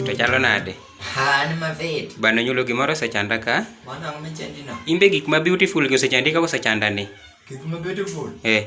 To chalo nade? An mavit. Bana nyulo gimoro osechanda ka. Mwana ngome chandino. Imbe gik ma beautiful gi osechandi ka osechanda ni. Gik ma beautiful. Eh.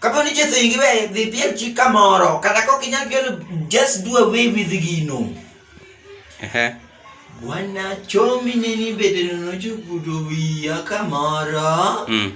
Kapo ni Jesu ingiwe dhi piel chi kamoro, kata kok inyal pielo, just do away with gino. Ehe. Bwana chomi ne ni bedeno nochukuto wiya kamoro. Mm.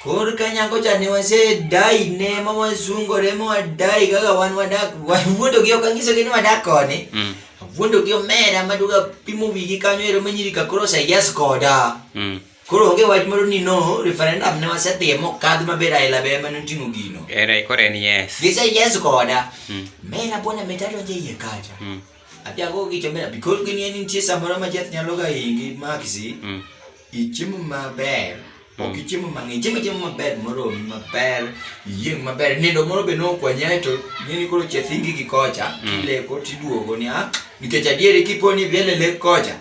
Kor ka nyako cha ne wasedai ne ma wasungore ma wadai kaka wan wadak wawuondo gi ok anyisogi ni wadak koni Mm. awuondo gi omera maduga pimo wigi kanyo ero manyiri ka koro oseyes koda Mm. Koro onge wach moro ni no referendum ne wasetimo mokadh maber aila be ema noting'o gino. Era koro en yes. Gise yes koda. Mm. Mera bwana metado je ye kacha. Mm. Apia go gicho mera because gini en nitie samoro ma jeth nyalo ga ingi maxi. Mm. Ichimu maber. Mm. Ok ichimu mang'eny, ichimu chiemo maber moro maber, iyieng' maber. Nindo moro be nokwanyae to ng'eni koro chethingi gi kocha, mm. kile kotiduogo ni ah, nikech adieri kiponi vile le kocha.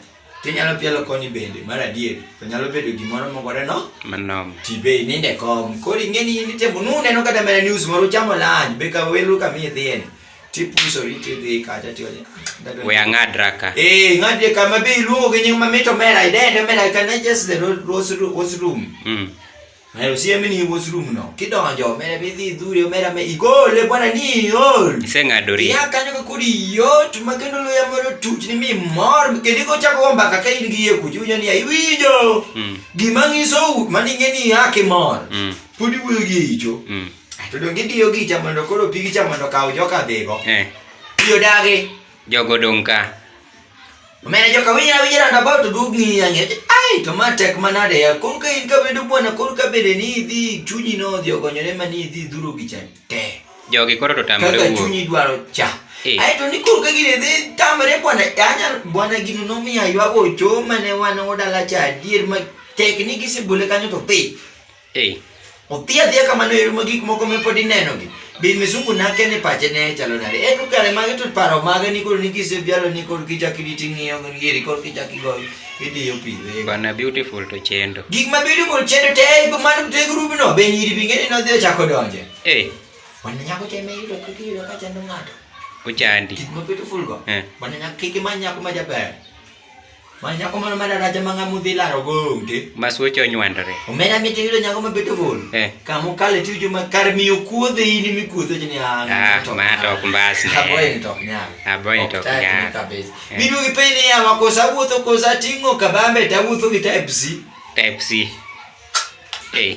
Tinyalo pielo koni bende, mar adier, to nyalo bedo gimoro mogore no? Manom. Tibe ininde kom, kori ng'eni yindi tembo, nune no kata mena news moro chamo lanj, beka welu kami ithieni. Tipuso riti dhi kata tiwani. Ah, We ang'ad raka. Eh, ng'ad raka mabe iluongo gi nying mamito mera, idende mera, can I just the rose room? Mm. Nayo siemi ni wosru mno. Kidonjo mere bidhi dhure mera me igole bwana ni ol. Iseng'adori. Ya kanyo ka kodi yot ma kendo loya moro tuch ni mi mor kendo ko chako omba ka in gi ye kuju ni ya iwinjo. Mm. Gima ngiso mani ngeni ya ke mor. Mm. Podi wuyo gi icho. Mm. To dongi diyo gi cha mondo koro pigi cha mondo kawo joka dhigo. Eh. Diyo dagi. Jogo dong' ka. Omena joka winyo awinyo round about to dug ni yange. Ai to ma tek manade ya. Koro ka in ka bedo bwana koro ka bende ni idhi chunyi no odhi ogonyore ma ni idhi dhuro gi cha te. Jogi koro to tamre Kaka wuok. chunyi dwaro cha. Eh. Ai to ni koro ka gini dhi tamre bwana anya bwana gino nomiya ywago choo mane wan odala cha adier ma tek ni gisebole kanyo to dhi. Hey. Odhi adhiya kamano e ma gik moko me pod inenogi. Bin misungu nake ni pache ne chalo nade. E to kare mage to paro mage ni koro ni kise bialo ni koro kichak iditi ng'iyo ngiri koro kichak igoyo idiyo pi. Bana beautiful to chendo. Gik ma beautiful chendo te e go man te group no be nyiri binge ni nodhi ochako donje. Eh. Wan nyako te me yudo kiki yudo ka chando ng'ato. Ochandi. Gik ma beautiful go. Eh. Wan nyako kiki ma nyako ma jaber. Ma nyako moro ma daraja ma ng'ama udhi laro go ute. Ma suoche onywandore. Omera miti yudo nyako ma beto vol. Eh. Kama ukale ti juma kar miyo kuodhe in mi kuodhe ni an. Ah, ma to ok mbas ne. Aboy ni tok nyal. Aboy ni tok nyal. Eh. Bidu gi pele ya ma kosa wuotho kosa tingo kabambe ta wuotho gi type C. Type C. Eh.